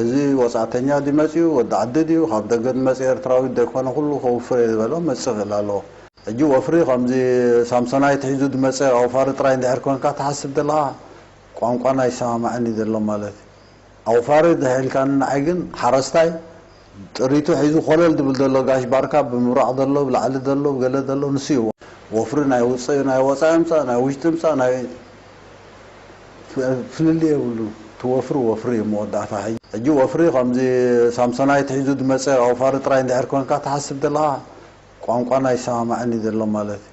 እዚ ወጻእተኛ ድዩ መጺኡ ወዲ ዓዲ ድዩ ካብ ደገ ዝመጸ ኤርትራዊ ደይኮነ ኩሉ ከውፍርየ ዝበሎ ክመጽእ ክእል ኣለዎ ሕጂ ወፍሪ ከምዚ ሳምሶናይት ሒዙ ዝመጸ ኣውፋሪ ጥራይ እንድሕር ኮንካ ትሓስብ ዘለኻ ቋንቋና ኣይሰማማዕን እዩ ዘሎ ማለት ኣውፋሪ ድሕ ኢልካኒ ንዓይ ግን ሓረስታይ ጥሪቱ ሒዙ ኮለል ድብል ደሎ ጋሽ ባርካ ብምብራቅ ደሎ ብላዕሊ ደሎ ብገለ ደሎ ንሱ እዩ ወፍሪ ናይ ውጽእ ናይ ወጻኢ ምጻእ ናይ ውሽጢ ምጻእ ናይ ፍልልይ የብሉን እቲ ወፍሪ ወፍሪ እዩ መወዳእታ ሕጂ ወፍሪ ከምዚ ሳምሶናይት ሒዙ ድመጸ ኣውፋሪ ጥራይ እንድሕር ኮንካ ትሓስብ ደለካ ቋንቋና ኣይሰማማዕን እዩ ደሎ ማለት እዩ።